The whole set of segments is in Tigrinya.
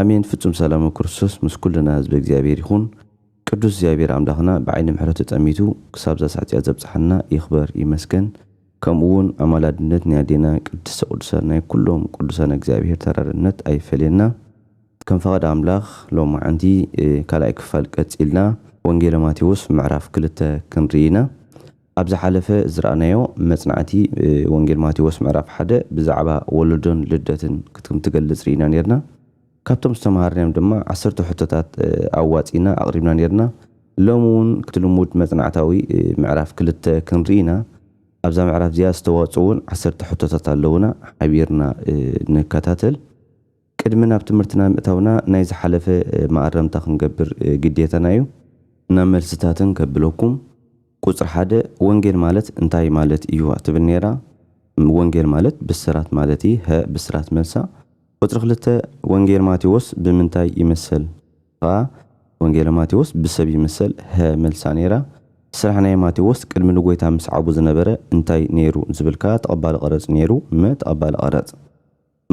ኣሜን ፍጹም ሰላመ ክርስቶስ ምስ ኩልና ህዝበ እግዚኣብሔር ይኹን ቅዱስ እግዚኣብሔር ኣምላኽና ብዓይኒ ምሕረቱ ጠሚቱ ክሳብዛ ሳዕጺኣት ዘብጽሓና ይኽበር ይመስገን ከምኡ ውን ኣማላድነት ናይ ኣዴና ቅድስተ ቅዱሳን ናይ ኩሎም ቅዱሳን እግዚኣብሔር ተራድእነት ኣይፈለየና ከም ፈቓድ ኣምላኽ ሎምዓንቲ ካልኣይ ክፋል ቀጺልና ወንጌለ ማቴዎስ ምዕራፍ ክልተ ክንርኢ ኢና ኣብ ዝሓለፈ ዝረኣናዮ መጽናዕቲ ወንጌል ማቴዎስ ምዕራፍ ሓደ ብዛዕባ ወለዶን ልደትን ክትም ትገልጽ ርኢና ኔርና። ካብቶም ዝተመሃርናዮም ድማ ዓሰርተ ሕቶታት ኣዋጺእና ኣቕሪብና ኔርና። ሎሚ ውን ክቲ ልሙድ መጽናዕታዊ ምዕራፍ ክልተ ክንርኢ ኢና። ኣብዛ ምዕራፍ እዚኣ ዝተዋጽኡ ውን ዓሰርተ ሕቶታት ኣለዉና ሓቢርና ንከታተል። ቅድሚ ናብ ትምህርትና ምእታውና ናይ ዝሓለፈ መኣረምታ ክንገብር ግዴታና እዩ። ናብ መልስታተን ከብለኩም፣ ቁጽሪ ሓደ፣ ወንጌል ማለት እንታይ ማለት እዩ? ትብል ነይራ። ም፣ ወንጌል ማለት ብስራት ማለት እዪ። ሀ፣ ብስራት መልሳ። ቁጽሪ ክልተ፣ ወንጌል ማቴዎስ ብምንታይ ይመሰል? ሀ፣ ወንጌለ ማቴዎስ ብሰብ ይመሰል። ሀ፣ መልሳ ነይራ። ስራሕ ናይ ማቴዎስ ቅድሚ ንጎይታ ምስዓቡ ዝነበረ እንታይ ነይሩ? ዝብል ከኣ ተቐባሊ ቀረጽ ነይሩ። መ፣ ተቐባሊ ቀረጽ።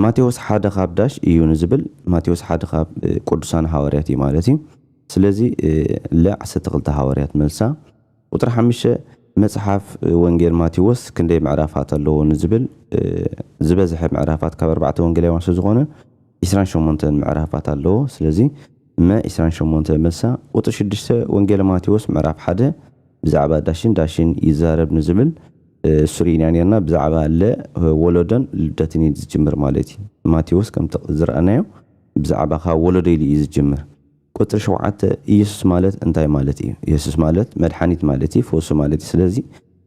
ማቴዎስ ሓደ ኻብ ዳሽ እዩ ንዝብል ማቴዎስ ሓደ ኻብ ቅዱሳን ሃዋርያት እዩ ማለት እዩ። ስለዚ ለ ዓሰርተ ክልተ ሃዋርያት መልሳ። ቁጽሪ ሓምሽተ መጽሓፍ ወንጌል ማቴዎስ ክንደይ ምዕራፋት ኣለዎ ንዝብል ዝበዝሐ ምዕራፋት ካብ ኣርባዕተ ወንጌላውያን ስለዝኾነ ዕስራን ሸሞንተን ምዕራፋት ኣለዎ። ስለዚ መ ዕስራን ሸሞንተ መልሳ። ቁጽሪ ሽዱሽተ ወንጌለ ማቴዎስ ምዕራፍ ሓደ ብዛዕባ ዳሽን ዳሽን ይዛረብ ንዝብል ሱሪ ኢና ኔርና ብዛዕባ ለ ወሎዶን ልደትን እዩ ዝጅምር ማለት እዩ ማቴዎስ ከምቲ ዝረኣናዮ ብዛዕባ ካብ ወሎዶ ኢሉ እዩ ዝጅምር ቁጽሪ ሸውዓተ ኢየሱስ ማለት እንታይ ማለት እዩ ኢየሱስ ማለት መድሓኒት ማለት እዩ ፈውሲ ማለት እዩ ስለዚ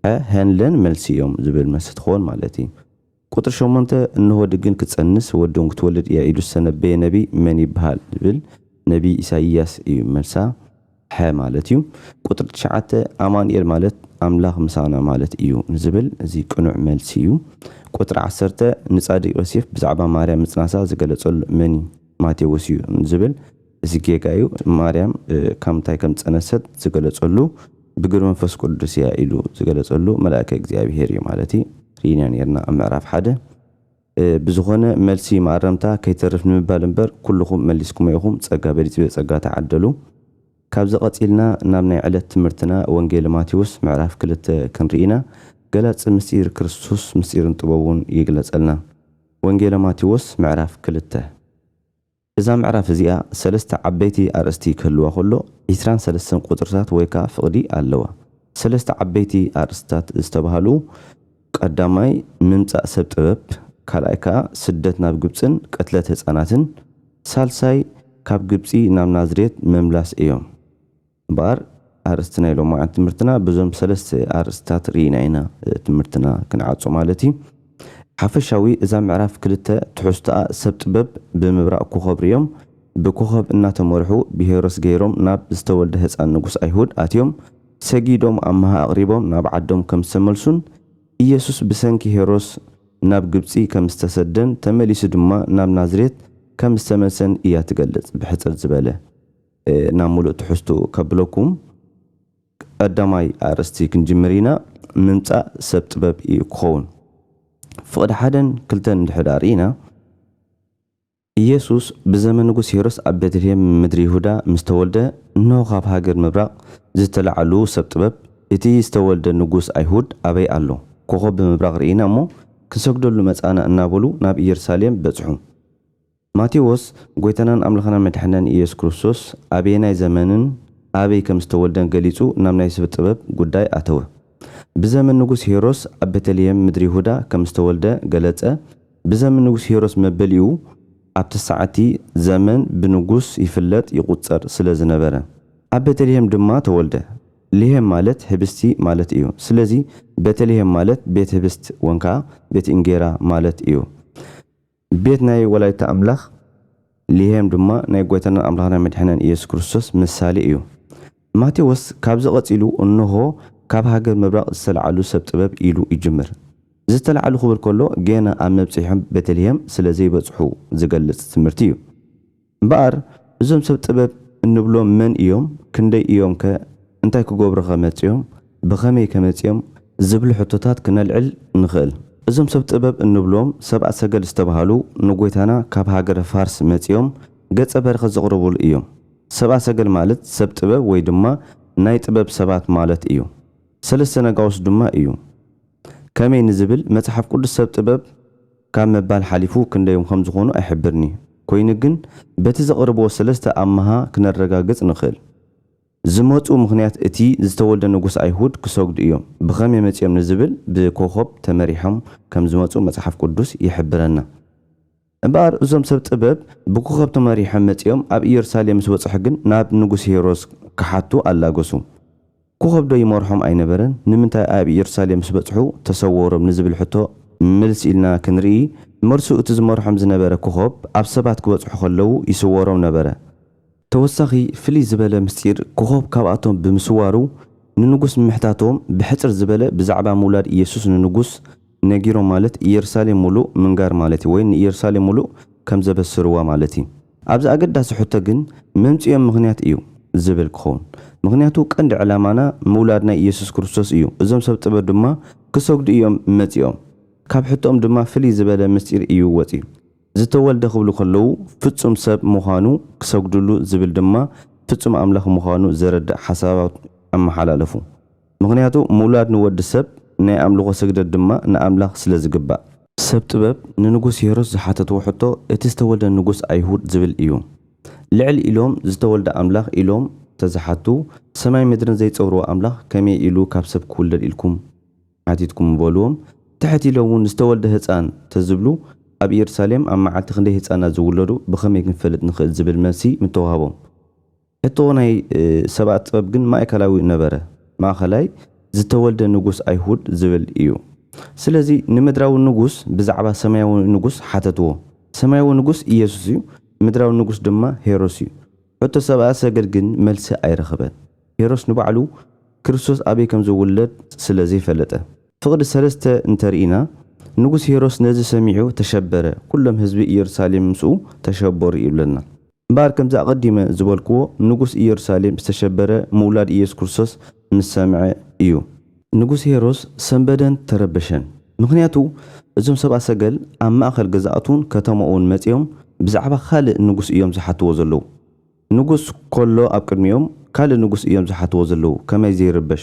ሐ ሐን ለን መልሲ እዮም ዝብል መልሲ ትኾን ማለት እዩ ቁጽሪ ሸሞንተ፣ እንሆ ድግን ክትጸንስ ወድን ክትወልድ ኢያ ኢሉ ዝተነበየ ነቢይ መን ይብሃል ዝብል፣ ነቢይ ኢሳይያስ እዩ መልሳ፣ ሐ ማለት እዩ። ቁጽሪ ትሽዓተ፣ ኣማኑኤል ማለት ኣምላኽ ምሳና ማለት እዩ ንዝብል እዚ ቅኑዕ መልሲ እዩ። ቁጽሪ ዓሰርተ፣ ንጻድቅ ዮሴፍ ብዛዕባ ማርያም ምጽናሳ ዝገለጸሉ መን እዩ ማቴዎስ እዩ ንዝብል፣ እዚ ጌጋ እዩ ማርያም ካብ ምንታይ ከም ዝጸነሰት ዝገለጸሉ ብግብሪ መንፈስ ቁዱስ እያ ኢሉ ዝገለጸሉ መላእከ እግዚኣብሄር እዩ ማለት እዩ ርኢና ኔርና ኣብ ምዕራፍ ሓደ ብዝኾነ መልሲ መኣረምታ ከይተርፍ ንምባል እምበር ኩሉኹም መሊስኩሞ ኢኹም ጸጋ በሊጽብዮ ጸጋ ተዓደሉ ካብዚ ቀጺልና ናብ ናይ ዕለት ትምህርትና ወንጌል ማቴዎስ ምዕራፍ ክልተ ክንርኢ ኢና ገላጺ ምስጢር ክርስቶስ ምስጢርን ጥበቡን ይግለጸልና ወንጌለ ማቴዎስ ምዕራፍ ክልተ እዛ ምዕራፍ እዚኣ ሰለስተ ዓበይቲ ኣርእስቲ ክህልዋ ከሎ ዕስራን ሰለስተን ቁጽርታት ወይ ከኣ ፍቕዲ ኣለዋ። ሰለስተ ዓበይቲ ኣርእስትታት ዝተባህሉ ቀዳማይ ምምጻእ ሰብ ጥበብ፣ ካልኣይ ከኣ ስደት ናብ ግብጽን ቅትለት ህጻናትን፣ ሳልሳይ ካብ ግብጺ ናብ ናዝሬት ምምላስ እዮም። እምበኣር ኣርእስቲ ናይ ሎማዓንቲ ትምህርትና በዞም ሰለስተ ኣርእስቲታት ርኢና ኢና ትምህርትና ክንዓጾ ማለት እዩ። ሓፈሻዊ እዛ ምዕራፍ ክልተ ትሕዝቶኣ ሰብ ጥበብ ብምብራቕ ኮኾብ ርእዮም ብኮኾብ እናተመርሑ ብሄሮስ ገይሮም ናብ ዝተወልደ ህጻን ንጉስ ኣይሁድ ኣትዮም ሰጊዶም ኣምሃ ኣቕሪቦም ናብ ዓዶም ከምዝተመልሱን ኢየሱስ ብሰንኪ ሄሮስ ናብ ግብጺ ከምዝተሰደን ተመሊሱ ድማ ናብ ናዝሬት ከምዝተመልሰን እያ ትገልጽ ብሕጽር ዝበለ ናብ ምሉእ ትሕዝትኡ ከብለኩም ቀዳማይ ኣርእስቲ ክንጅምር ኢና ምምጻእ ሰብ ጥበብ ኢዩ ክኸውን ፍቕዲ ሓደን ክልተን እንድሕዳ ርኢና ኢየሱስ ብዘመን ንጉስ ሄሮድስ ኣብ ቤተልሔም ምድሪ ይሁዳ ምስ ተወልደ እንሆ ካብ ሃገር ምብራቕ ዝተላዕሉ ሰብ ጥበብ እቲ ዝተወልደ ንጉስ ኣይሁድ ኣበይ ኣሎ ኮኾብ ብምብራቕ ርኢና እሞ ክንሰግደሉ መጻእና እናበሉ ናብ ኢየሩሳሌም በጽሑ ማቴዎስ ጐይታናን ኣምላኽናን መድሓኒናን ኢየሱስ ክርስቶስ ኣበየናይ ዘመንን ኣበይ ከም ዝተወልደን ገሊጹ ናብ ናይ ስብ ጥበብ ጉዳይ ኣተወ። ብዘመን ንጉስ ሄሮስ ኣብ ቤተልሔም ምድሪ ይሁዳ ከም ዝተወልደ ገለጸ ብዘምን ንጉስ ሄሮስ መበሊኡ ኣብ ትስዓቲ ዘመን ብንጉስ ይፍለጥ ይቁጸር ስለ ዝነበረ ኣብ ቤተልሔም ድማ ተወልደ ልሔም ማለት ሕብስቲ ማለት እዩ ስለዚ ቤተልሔም ማለት ቤት ህብስት ወንካዓ ቤት እንጌራ ማለት እዩ። ቤት ናይ ወላዲተ ኣምላኽ ልሔም ድማ ናይ ጎይታናን ኣምላኽናን መድኅናን ኢየሱስ ክርስቶስ ምሳሌ እዩ። ማቴዎስ ካብዚ ቀጺሉ እንሆ ካብ ሃገር ምብራቕ ዝተለዓሉ ሰብ ጥበብ ኢሉ ይጅምር። ዝተለዓሉ ክብል ከሎ ገና ኣብ መብጽሔኦም ቤተልሔም ስለ ዘይበጽሑ ዝገልጽ ትምህርቲ እዩ። እምበኣር እዞም ሰብ ጥበብ እንብሎም መን ኢዮም፣ ክንደይ ኢዮምከ፣ እንታይ ክገብሩኸ መጺኦም፣ ብኸመይከ መጺኦም ዝብሉ ሕቶታት ክነልዕል ንኽእል። እዞም ሰብ ጥበብ እንብሎም ሰብኣ ሰገል ዝተባህሉ ንጎይታና ካብ ሃገረ ፋርስ መጺኦም ገጸ በረከት ዘቕርቡሉ ኢዮም። ሰብኣ ሰገል ማለት ሰብ ጥበብ ወይ ድማ ናይ ጥበብ ሰባት ማለት ኢዩ። ሰለስተ ነጋውስ ድማ ኢዩ። ከመይ ንዝብል መጽሓፍ ቅዱስ ሰብ ጥበብ። ካብ ምባል ሓሊፉ ክንደዮም ከም ዝኾኑ ኣይሕብርን'ዩ። ኮይኑ ግን በቲ ዘቕርብዎ ሰለስተ ኣምሃ ክነረጋግጽ ንኽእል። ዝመጽኡ ምኽንያት እቲ ዝተወልደ ንጉስ ኣይሁድ ክሰግዱ እዮም። ብኸመይ መጺኦም ንዝብል ብኮኾብ ተመሪሖም ከም ዝመጹ መጽሓፍ ቅዱስ ይሕብረና። እምበኣር እዞም ሰብ ጥበብ ብኮኾብ ተመሪሖም መጺኦም ኣብ ኢየሩሳሌም ምስ በጽሑ ግን ናብ ንጉስ ሄሮድስ ክሓቱ ኣላገሱ። ክኸብዶ ይመርሖም ኣይነበረን? ንምንታይ ኣብ ኢየሩሳሌም ምስ በጽሑ ተሰወሮም ንዝብል ሕቶ ምልስ ኢልና ክንርኢ፣ መልሱ እቲ ዝመርሖም ዝነበረ ክኾብ ኣብ ሰባት ክበጽሑ ከለዉ ይስወሮም ነበረ። ተወሳኺ ፍልይ ዝበለ ምስጢር ክኾብ ካብኣቶም ብምስዋሩ ንንጉስ ምምሕታቶም ብሕጽር ዝበለ ብዛዕባ ምውላድ ኢየሱስ ንንጉስ ነጊሮም ማለት ኢየሩሳሌም ምሉእ ምንጋር ማለት እዩ ወይ ንኢየሩሳሌም ምሉእ ከም ዘበስርዋ ማለት እዩ። ኣብዚ ኣገዳሲ ሕቶ ግን መምጽኢኦም ምኽንያት እዩ ዝብል ክኸውን። ምኽንያቱ ቀንዲ ዕላማና ምውላድ ናይ ኢየሱስ ክርስቶስ እዩ፣ እዞም ሰብ ጥበብ ድማ ክሰግዱ እዮም መጺኦም። ካብ ሕቶኦም ድማ ፍልይ ዝበለ ምስጢር እዩ ወጺኡ። ዝተወልደ ክብሉ ከለዉ ፍጹም ሰብ ምዃኑ ክሰግድሉ ዝብል ድማ ፍጹም ኣምላኽ ምዃኑ ዘረድእ ሓሳባት ኣመሓላለፉ። ምኽንያቱ ምውላድ ንወዲ ሰብ፣ ናይ ኣምልኾ ስግደት ድማ ንኣምላኽ ስለ ዝግባእ። ሰብ ጥበብ ንንጉስ ሄሮስ ዝሓተትዎ ሕቶ እቲ ዝተወልደ ንጉስ ኣይሁድ ዝብል እዩ። ልዕል ኢሎም ዝተወልደ ኣምላኽ ኢሎም ተዝሓቱ ሰማይ ምድርን ዘይጸውርዎ ኣምላኽ ከመይ ኢሉ ካብ ሰብ ክውለድ ኢልኩም ሓቲትኩም ምበልዎም ትሕት ኢሎም ውን ዝተወልደ ህጻን ተዝብሉ ኣብ እየሩሳሌም ኣብ መዓልቲ ክንደይ ህጻናት ዝውለዱ ብኸመይ ክንፈልጥ ንኽእል ዝብል መልሲ ምተዋህቦም። ሕቶ ናይ ሰብኣት ጥበብ ግን ማእከላዊ ነበረ፣ ማእከላይ ዝተወልደ ንጉስ ኣይሁድ ዝብል እዩ። ስለዚ ንምድራዊ ንጉስ ብዛዕባ ሰማያዊ ንጉስ ሓተትዎ። ሰማያዊ ንጉስ ኢየሱስ እዩ፣ ምድራዊ ንጉስ ድማ ሄሮስ እዩ። ሕቶ ሰብኣ ሰገል ግን መልሲ ኣይረኸበን። ሄሮስ ንባዕሉ ክርስቶስ ኣበይ ከም ዝውለድ ስለ ዘይፈለጠ። ፍቕዲ ሰለስተ እንተ ርኢና፣ ንጉስ ሄሮስ ነዚ ሰሚዑ ተሸበረ፣ ኩሎም ህዝቢ ኢየሩሳሌም ምስኡ ተሸበሩ ይብለና። እምበኣር ከምቲ ኣቐዲመ ዝበልክዎ ንጉስ ኢየሩሳሌም ዝተሸበረ ምውላድ ኢየሱስ ክርስቶስ ምስ ሰምዐ እዩ። ንጉስ ሄሮስ ሰምበደን ተረበሸን። ምኽንያቱ እዞም ሰብኣ ሰገል ኣብ ማእከል ገዛእቱን ከተማኡን መጺኦም ብዛዕባ ካልእ ንጉስ እዮም ዝሓትዎ ዘለዉ። ንጉስ ከሎ ኣብ ቅድሚኦም ካልእ ንጉስ እዮም ዝሓትዎ ዘለዉ ከመይ ዘይርበሽ።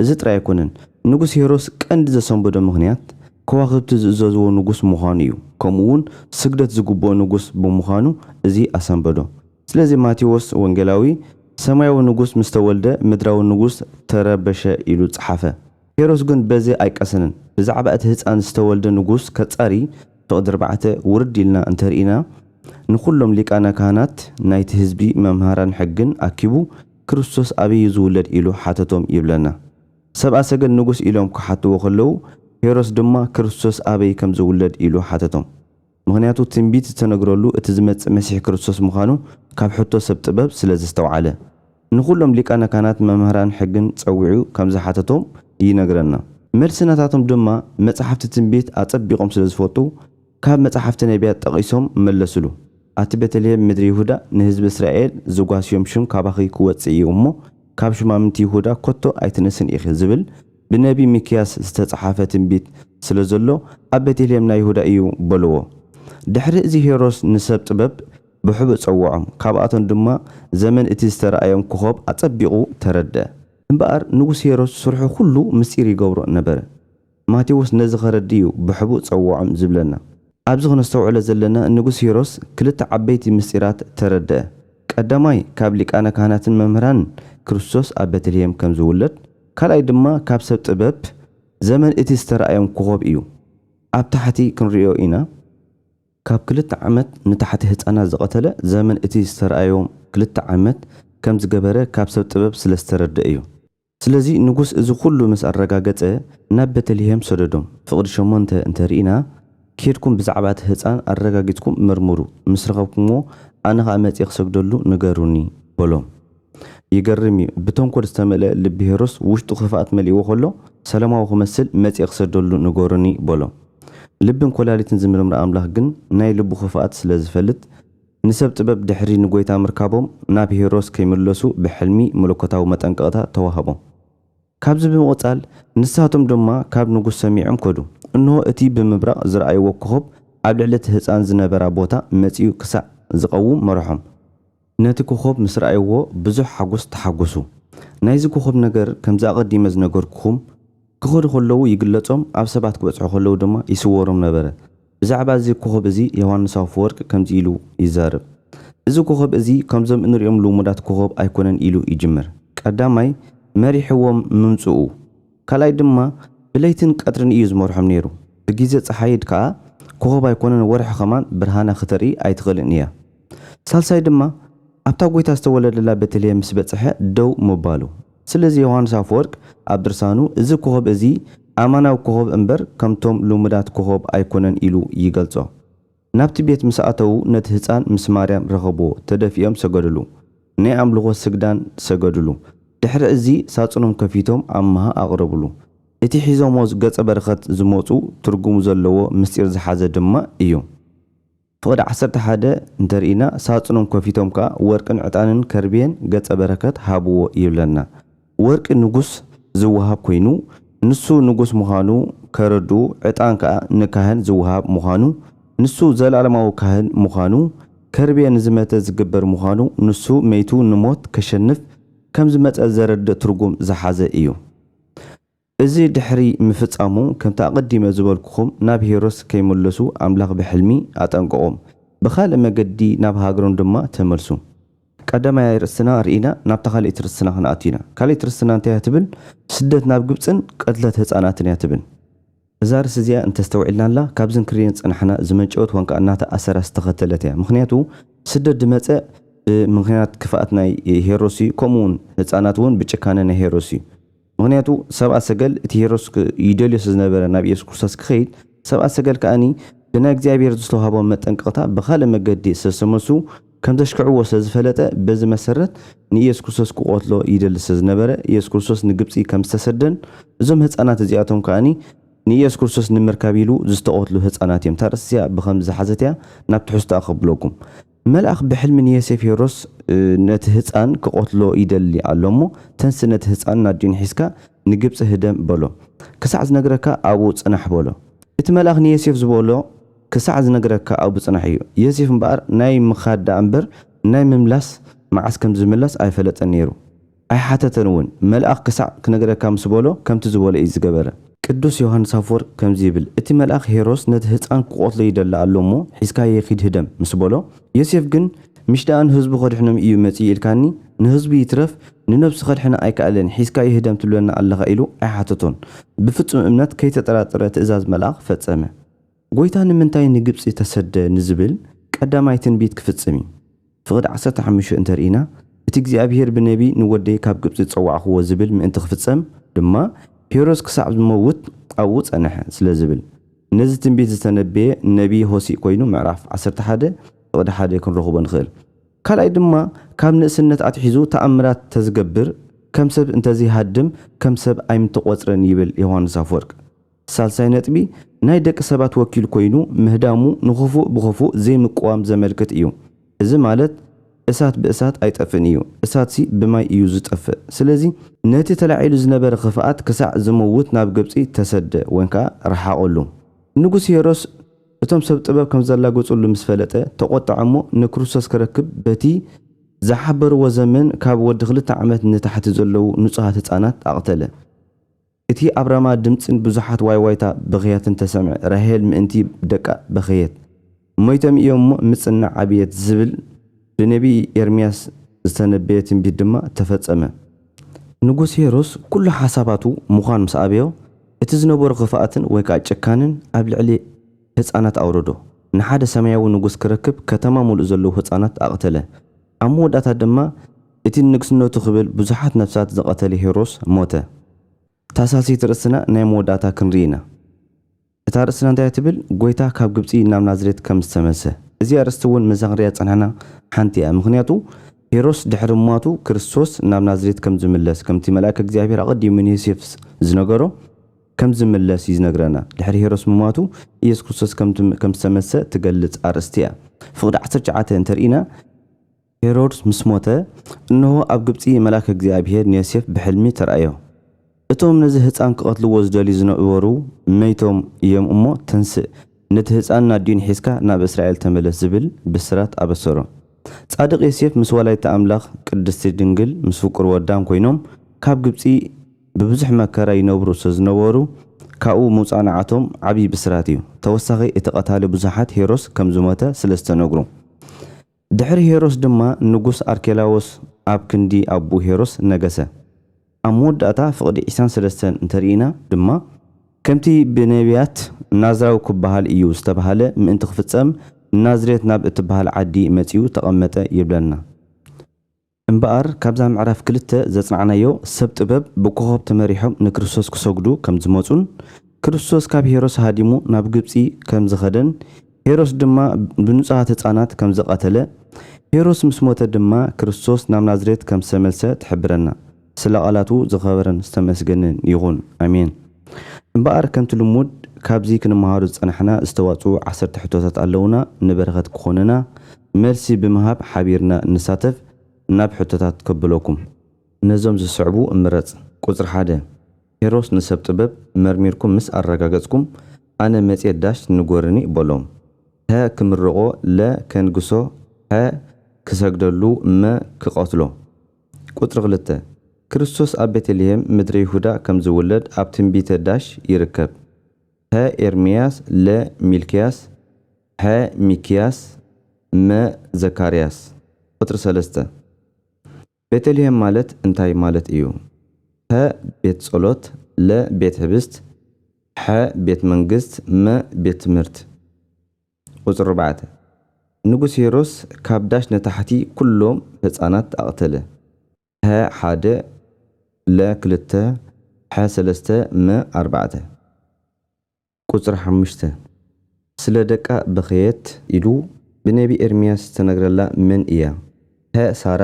እዚ ጥራይ ኣይኰነን፣ ንጉስ ሄሮድስ ቀንዲ ዘሰንበዶ ምኽንያት፣ ከዋኽብቲ ዝእዘዝዎ ንጉስ ምዃኑ እዩ፣ ከምኡውን ስግደት ዝግብኦ ንጉስ ብምዃኑ እዚ ኣሰንበዶ። ስለዚ ማቴዎስ ወንጌላዊ፣ ሰማያዊ ንጉስ ምስ ተወልደ ምድራዊ ንጉስ ተረበሸ ኢሉ ጸሓፈ። ሄሮድስ ግን በዚ ኣይቀሰንን። ብዛዕባ እቲ ህጻን ዝተወልደ ንጉስ ከጻሪ፣ ፍቕዲ ኣርባዕተ፣ ውርድ ኢልና እንተ ርኢና፣ ንዅሎም ሊቃነ ካህናት፣ ናይቲ ህዝቢ መምሃራን ሕግን ኣኪቡ ክርስቶስ ኣበይ እዩ ዝውለድ ኢሉ ሓተቶም ይብለና። ሰብኣ ሰገል ንጉስ ኢሎም ክሓትዎ ከለዉ ሄሮስ ድማ ክርስቶስ ኣበይ ከም ዝውለድ ኢሉ ሓተቶም። ምኽንያቱ ትንቢት ዝተነግረሉ እቲ ዝመጽእ መሲሕ ክርስቶስ ምዃኑ ካብ ሕቶ ሰብ ጥበብ ስለ ዘስተውዓለ። ንኹሎም ሊቃነ ካህናት መምህራን ሕግን ጸዊዑ ከም ዝሓተቶም ይነግረና። መልሲ ናታቶም ድማ መጻሕፍቲ ትንቢት ኣጸቢቖም ስለ ዝፈልጡ ካብ መጻሕፍቲ ነብያት ጠቒሶም መለሱሉ፣ ኣቲ ቤተልሔም ምድሪ ይሁዳ፣ ንህዝቢ እስራኤል ዚጓስዮም ሽም ካባኺ ኪወጽእ እዩ እሞ፣ ካብ ሹማምንቲ ይሁዳ ከቶ ኣይትንእስን ኢኺ ዚብል ብነብዪ ሚክያስ ዝተጻሕፈ ትንቢት ስለ ዘሎ፣ ኣብ ቤተልሔም ናይ ይሁዳ እዩ በልዎ። ድሕሪ እዚ ሄሮድስ ንሰብ ጥበብ ብሕቡእ ጸውዖም፣ ካብኣቶም ድማ ዘመን እቲ ዝተራእዮም ኮኾብ ኣጸቢቑ ተረድኣ። እምበኣር ንጉስ ሄሮድስ ስርሑ ዅሉ ምስጢር ይገብሮ ነበረ። ማቴዎስ ነዚ ከረድእ እዩ ብሕቡእ ጸውዖም ዝብለና። ኣብዚ ክነስተውዕሎ ዘለና ንጉስ ሂሮስ ክልተ ዓበይቲ ምስጢራት ተረድኣ። ቀዳማይ ካብ ሊቃነ ካህናትን መምህራንን ክርስቶስ ኣብ ቤተልሔም ከም ዝውለድ፣ ካልኣይ ድማ ካብ ሰብ ጥበብ ዘመን እቲ ዝተራእዮም ኮኾብ እዩ። ኣብ ታሕቲ ክንርእዮ ኢና። ካብ ክልተ ዓመት ንታሕቲ ህጻናት ዝቐተለ ዘመን እቲ ዝተራእዮም ክልተ ዓመት ከም ዝገበረ ካብ ሰብ ጥበብ ስለ ዝተረድኣ እዩ። ስለዚ ንጉስ እዚ ዅሉ ምስ ኣረጋገጸ፣ ናብ ቤተልሄም ሰደዶም። ፍቕዲ ሸሞንተ እንተ ርኢና፣ ኬድኩም ብዛዕባ እቲ ህጻን ኣረጋጊጽኩም መርምሩ፣ ምስ ረኸብኩምዎ፣ ኣነ ኸኣ መጺኤ ክሰግደሉ ንገሩኒ፣ በሎም። ይገርም እዩ፣ ብተንኰል ዝተመልአ ልቢ ሄሮድስ ውሽጡ ኽፍኣት መሊእዎ ኸሎ፣ ሰላማዊ ኽመስል መጺኤ ክሰግደሉ ንገሩኒ፣ በሎም። ልብን ኰላሊትን ዚምርምር ኣምላኽ ግን ናይ ልቡ ኽፍኣት ስለ ዚፈልጥ፣ ንሰብ ጥበብ ድሕሪ ንጐይታ ምርካቦም ናብ ሄሮስ ከይምለሱ ብሕልሚ መለኮታዊ መጠንቀቕታ ተዋህቦም። ካብዚ ብምቕጻል ንሳቶም ድማ ካብ ንጉስ ሰሚዖም ከዱ። እንሆ እቲ ብምብራቕ ዝረኣይዎ ኮኾብ ኣብ ልዕሊ እቲ ህጻን ዝነበራ ቦታ መጺኡ ክሳዕ ዝቐውም መርሖም። ነቲ ኮኾብ ምስ ረኣይዎ ብዙሕ ሓጐስ ተሓጐሱ። ናይዚ ኮኾብ ነገር ከምዚ ኣቐዲመ ዝነገርኩኹም ክኸዱ ከለዉ ይግለጾም ኣብ ሰባት ክበጽሑ ከለዉ ድማ ይስወሮም ነበረ። ብዛዕባ እዚ ኮኾብ እዚ ዮሃንስ ኣፈወርቅ ከምዚ ኢሉ ይዛረብ፣ እዚ ኮኾብ እዚ ከምዞም እንርእዮም ልሙዳት ኮኾብ ኣይኮነን ኢሉ ይጅምር። ቀዳማይ መሪሕዎም ምምጽኡ፣ ካልኣይ ድማ ብለይትን ቀትርን እዩ ዝመርሖም ነይሩ። ብጊዘ ጸሓይድ ከኣ ኮኾብ ኣይኮነን ወርሒ ከማን ብርሃና ክተርኢ ኣይትኽእልን እያ። ሳልሳይ ድማ ኣብታ ጎይታ ዝተወለደላ ቤተልሄም ምስ በጽሐ ደው ምባሉ። ስለዚ ዮሃንስ ኣፈወርቅ ኣብ ድርሳኑ እዚ ኮኾብ እዚ ኣማናዊ ኮኾብ እምበር ከምቶም ልሙዳት ኮኾብ ኣይኮነን ኢሉ ይገልጾ። ናብቲ ቤት ምስ ኣተዉ ነቲ ህጻን ምስ ማርያም ረኸብዎ ተደፊኦም ሰገድሉ። ናይ ኣምልኾ ስግዳን ሰገድሉ። ድሕሪ እዚ ሳጹኖም ከፊቶም ኣማሃ ኣቕረብሉ። እቲ ሒዞሞ ገጸ በረኸት ዝመጹ ትርጉሙ ዘለዎ ምስጢር ዝሓዘ ድማ እዩ። ፍቕዲ ዓሰርተ ሓደ እንተ ርኢና ሳጹኖም ከፊቶም ከኣ ወርቅን ዕጣንን ከርቤን ገጸ በረከት ሃብዎ ይብለና። ወርቂ ንጉስ ዝወሃብ ኮይኑ ንሱ ንጉስ ምዃኑ ከረድኡ ዕጣን ከኣ ንካህን ዝወሃብ ምዃኑ ንሱ ዘለኣለማዊ ካህን ምዃኑ ከርቤ ንዝመተ ዝግበር ምዃኑ ንሱ መይቱ ንሞት ከሸንፍ ከምዝመጸ ዘረድእ ትርጉም ዝሓዘ እዩ። እዚ ድሕሪ ምፍጻሙ ከምቲ ኣቐዲመ ዝበልኩኹም ናብ ሂሮስ ከይምለሱ ኣምላኽ ብሕልሚ ኣጠንቀቖም። ብኻልእ መገዲ ናብ ሃገሮም ድማ ተመልሱ። ቀዳማይ ርእስና ርኢና ናብታ ካልኣይቲ ርስትና ክንኣቱ ኢና። ካልኣይቲ ርስትና እንታይ እያ ትብል? ስደት ናብ ግብጽን ቅትለት ህጻናትን እያ ትብል። እዛ ርእሲ እዚኣ እንተስተውዒልናላ ካብዚ እንክርእዮ ዝጸናሕና ዝመንጨወት ዋንካ እናተ ኣሰራ ዝተኸተለት እያ። ምኽንያቱ ስደት ድመጸ ብምኽንያት ክፍኣት ናይ ሄሮስ እዩ ከምኡውን ህጻናት እውን ብጭካነ ናይ ሄሮስ እዩ። ምኽንያቱ ሰብኣ ሰገል እቲ ሄሮድስ ይደልዮ ስለዝነበረ ናብ ኢየሱስ ክርስቶስ ክኸይድ ሰብኣ ሰገል ከኣ ብናይ እግዚኣብሔር ዝተውሃቦም መጠንቀቕታ ብኻልእ መገዲ ስለዝተመልሱ ከምዘሽክዕዎ ስለዝፈለጠ በዚ መሰረት ንኢየሱስ ክርስቶስ ክቖትሎ ይደሊ ስለዝነበረ ኢየሱስ ክርስቶስ ንግብጺ ከምዝተሰደን እዞም ህጻናት እዚኣቶም ከኣ ንኢየሱስ ክርስቶስ ንምርካብ ኢሉ ዝተቖትሉ ህጻናት እዮም ታርእስቲ እዚኣ ብኸምዚ ዝሓዘት እያ ናብ ትሕዝቶኣ ከብለኩም መልኣኽ ብሕልሚ ንየሴፍ ሄሮድስ ነቲ ህጻን ክቐትሎ ይደሊ ኣሎ እሞ ተንሥእ ነቲ ህጻን ናዲዮን ሒዝካ ንግብጺ ህደም በሎ ክሳዕ ዝነግረካ ኣብኡ ጽናሕ በሎ። እቲ መልኣኽ ንየሴፍ ዝበሎ ክሳዕ ዝነግረካ ኣብኡ ጽናሕ እዩ። የሴፍ እምበኣር ናይ ምኻድ ደኣ እምበር ናይ ምምላስ መዓስ ከም ዝምለስ ኣይፈለጠን ነይሩ። ኣይሓተተን እውን፣ መልኣኽ ክሳዕ ክነግረካ ምስ በሎ ከምቲ ዝበሎ ኢዩ ዝገበረ። ቅዱስ ዮሃንስ ኣፍወርቅ ከምዚ ይብል፣ እቲ መልኣኽ ሄሮስ ነቲ ህጻን ክቐትሎ ይደሊ ኣሎ እሞ ሒዝካዬ ኪድ ህደም ምስ በሎ፣ ዮሴፍ ግን ምሽ ደኣ ንህዝቡ ከድሕኖም ኢዩ መጺኡ ኢልካኒ፣ ንህዝቡ ይትረፍ ንነብሱ ከድሕና ኣይከኣለን ሒዝካዬ ህደም ትብለና ኣለኻ ኢሉ ኣይሓተቶን። ብፍጹም እምነት ከይተጠራጠረ ትእዛዝ መልኣኽ ፈጸመ። ጐይታ ንምንታይ ንግብጺ ተሰደ ንዝብል ቀዳማይ ትንቢት ክፍጽም እዩ። ፍቕዲ ዓሰርተ ሓሙሽተ እንተ ርኢና፣ እቲ እግዚኣብሄር ብነብዪ ንወደይ ካብ ግብጺ ዝጸዋዕክዎ ዝብል ምእንቲ ክፍጸም ድማ ሄሮድስ ክሳዕ ዝመውት ኣብኡ ጸንሐ ስለ ዝብል ነዚ ትንቢት ዝተነበየ ነብዪ ሆሴእ ኮይኑ ምዕራፍ ዓሰርተ ሓደ ፍቕዲ ሓደ ክንረኽቦ ንኽእል። ካልኣይ ድማ ካብ ንእስነት ኣትሒዙ ተኣምራት ተዝገብር ከም ሰብ እንተዘይሃድም ከም ሰብ ኣይምተቖጽረን ይብል ዮሃንስ ኣፍወርቅ። ሳልሳይ ነጥቢ፣ ናይ ደቂ ሰባት ወኪል ኮይኑ ምህዳሙ ንክፉእ ብክፉእ ዘይምቅዋም ዘመልክት እዩ። እዚ ማለት እሳት ብእሳት ኣይጠፍእን እዩ፣ እሳትሲ ብማይ እዩ ዝጠፍእ። ስለዚ ነቲ ተላዒሉ ዝነበረ ክፍኣት ክሳዕ ዝመውት ናብ ግብጺ ተሰደ ወን ከኣ ረሓቐሉ። ንጉስ ሄሮስ እቶም ሰብ ጥበብ ከም ዘላገጹሉ ምስ ፈለጠ ተቖጥዐ እሞ ንክርስቶስ ክረክብ በቲ ዝሓበርዎ ዘመን ካብ ወዲ ክልተ ዓመት ንታሕቲ ዘለዉ ንጹሃት ህጻናት ኣቕተለ። እቲ ኣብ ራማ ድምጽን ብዙሓት ዋይዋይታ ብኽያትን ተሰምዐ። ራሄል ምእንቲ ደቃ በኸየት። ሞይቶም እዮም እሞ ምጽናዕ ኣብየት ዝብል ብነቢይ ኤርምያስ ዝተነበየ ትንቢት ድማ ተፈጸመ። ንጉስ ሄሮድስ ኩሉ ሓሳባቱ ምዃን ምስ ኣበዮ፣ እቲ ዝነበሮ ክፍኣትን ወይ ከኣ ጭካነን ኣብ ልዕሊ ህጻናት ኣውረዶ። ንሓደ ሰማያዊ ንጉስ ክረክብ ከተማ ምሉእ ዘለዉ ህጻናት ኣቕተለ። ኣብ መወዳእታ ድማ እቲ ንንግስነቱ ክብል ብዙሓት ነፍሳት ዝቐተለ ሄሮስ ሞተ። እታ ሳልሰይቲ ርእስና ናይ መወዳእታ ክንርኢ ኢና። እታ ርእስና እንታይ እያ ትብል? ጐይታ ካብ ግብጺ ናብ ናዝሬት ከም ዝተመልሰ። እዚ ኣርእስቲ እውን ምስዛ ክንርእያ ዝጸናሕና ሓንቲ እያ። ምኽንያቱ ሄሮስ ድሕሪ ምሟቱ ክርስቶስ ናብ ናዝሬት ከም ዝምለስ ከምቲ መልኣከ እግዚኣብሔር ኣቐዲሙ ንዮሴፍ ዝነገሮ፣ ከም ዚምለስ እዩ ዚነግረና። ድሕሪ ሄሮድስ ምሟቱ፣ ኢየሱስ ክርስቶስ ከም ዝተመሰ እትገልጽ ኣርእስቲ እያ። ፍቕዲ ዓሰርተ ትሽዓተ እንተ ርኢና፣ ሄሮድስ ምስ ሞተ፣ እንሆ፣ ኣብ ግብጺ መልኣከ እግዚኣብሄር ንዮሴፍ ብሕልሚ ተራእዮ። እቶም ነዚ ህጻን ኪቐትልዎ ዚደልዩ ዝነበሩ፣ መይቶም እዮም እሞ፣ ተንስእ፣ ነቲ ህጻንን ኣዲኡን ሒዝካ ናብ እስራኤል ተመለስ ዚብል ብስራት ኣበሰሮ። ጻድቕ ዮሴፍ ምስ ወላዲተ ኣምላኽ ቅድስቲ ድንግል ምስ ፍቁር ወዳን ኰይኖም ካብ ግብጺ፣ ብብዙሕ መከራ ይነብሩ ሰዝነበሩ ካብኡ ምውጻእንዓቶም ዓቢ ብስራት እዩ ተወሳኺ እቲ ቀታሊ ብዙሓት ሄሮስ ከምዝሞተ ስለዝተነግሩ ድሕሪ ሄሮስ ድማ ንጉስ ኣርኬላዎስ ኣብ ክንዲ ኣቡኡ ሄሮስ ነገሰ ኣብ መወዳእታ ፍቅዲ ዒሳን ሰለስተን እንተርኢና ድማ ከምቲ ብነብያት ናዝራዊ ክበሃል እዩ ዝተባህለ ምእንቲ ክፍጸም ንናዝሬት ናብ እትበሃል ዓዲ መጺኡ ተቀመጠ ይብለና። እምበኣር ካብዛ ምዕራፍ ክልተ ዘጽናዕናዮ ሰብ ጥበብ ብኮኾብ ተመሪሖም ንክርስቶስ ክሰግዱ ከም ዝመጹን ክርስቶስ ካብ ሄሮስ ሃዲሙ ናብ ግብጺ ከም ዝኸደን ሄሮስ ድማ ብንጹሃት ህጻናት ከም ዝቐተለ ሄሮስ ምስ ሞተ ድማ ክርስቶስ ናብ ናዝሬት ከም ዝተመልሰ ትሕብረና ስለ ቃላቱ ዝኸበረን ዝተመስገንን ይኹን ኣሜን እምበኣር ከምቲ ልሙድ ካብዚ ክንመሃሮ ዝጸናሕና ዝተዋጽኡ ዓሰርተ ሕቶታት ኣለዉና ንበረኸት ክኾኑና መልሲ ብምሃብ ሓቢርና ንሳተፍ ናብ ሕቶታት ከብለኩም። ነዞም ዝስዕቡ ምረጽ። ቁጽሪ ሓደ፣ ኪሮስ ንሰብ ጥበብ መርሚርኩም ምስ ኣረጋገጽኩም ኣነ መጽየ ዳሽ ንጎርኒ በሎም። ሀ ክምርቆ ለ ከንግሶ ሐ ክሰግደሉ መ ክቀትሎ። ቁጽሪ ክልተ፣ ክርስቶስ ኣብ ቤተልሔም ምድረ ይሁዳ ከም ዝውለድ ኣብ ትንቢተ ዳሽ ይርከብ። ሀ ኤርምያስ ለ ሚልክያስ። ሐ ሚክያስ መ ዘካርያስ ቁፅሪ ሰለስተ ቤተልሔም ማለት እንታይ ማለት እዩ? ፐ ቤት ፀሎት ለ ቤት ሕብስት ሐ ቤት መንግስት መ ቤት ትምህርት ቁፅሪ ኣርባዕተ ንጉስ ሄሮስ ካብ ዳሽ ንታሕቲ ኩሎም ህፃናት ኣቕተለ ፐ ሓደ ለ ክልተ ሐ ሰለስተ መ ኣርባዕተ። ቁጽሪ ሓሙሽተ፣ ስለ ደቃ በኸየት ኢሉ ብነቢ ኤርምያስ ዝተነግረላ መን እያ? ሀ ሳራ፣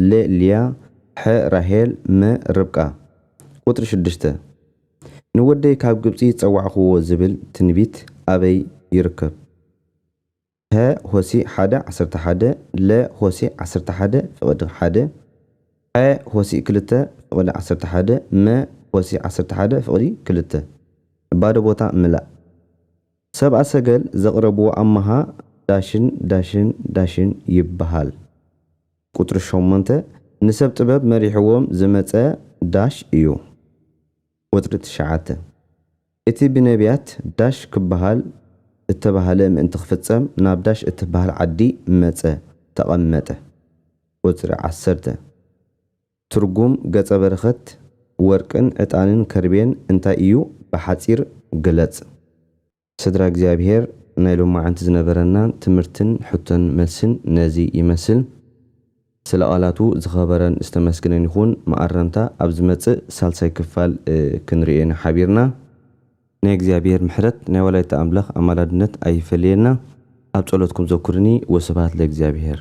ለ ልያ፣ ሐ ራሄል፣ መ ርብቃ። ቁጽሪ ሽዱሽተ፣ ንወደይ ካብ ግብጺ ጸዋዕክዎ ዝብል ትንቢት ኣበይ ይርከብ? ሀ ሆሲ ሓደ ዓሰርተ ሓደ ለ ሆሲ ዓሰርተ ሓደ ፍቕድ ሓደ ሐ ሆሲ ክልተ ፍቕድ ዓሰርተ ሓደ መ ሆሲ ዓሰርተ ሓደ ፍቕዲ ክልተ ባዶ ቦታ ምላእ ሰብኣ ሰገል ዘቕረብዎ ኣማሃ ዳሽን ዳሽን ዳሽን ይበሃል ቁፅሪ ሸሞንተ ንሰብ ጥበብ መሪሕዎም ዝመፀ ዳሽ እዩ። ቁጽሪ ትሽዓተ፣ እቲ ብነብያት ዳሽ ክበሃል እተባህለ ምእንቲ ክፍጸም ናብ ዳሽ እትበሃል ዓዲ መጸ፣ ተቐመጠ። ቁጽሪ ዓሰርተ፣ ትርጉም ገጸ በረኸት ወርቅን ዕጣንን ከርቤን እንታይ ኢዩ? ብሓጺር ግለጽ። ስድራ እግዚኣብሔር ናይ ሎማዓንቲ ዝነበረና ትምህርትን ሕቶን መልስን ነዚ ይመስል ስለ ቃላቱ ዝኸበረን ዝተመስግነን ይኹን መኣረምታ ኣብ ዝመጽእ ሳልሳይ ክፋል ክንርእዮ ኢና ሓቢርና። ናይ እግዚኣብሔር ምሕረት ናይ ወላዲተ ኣምላኽ ኣማላድነት ኣይፈለየና ኣብ ጸሎትኩም ዘኩርኒ ወስብሃት ለእግዚኣብሔር።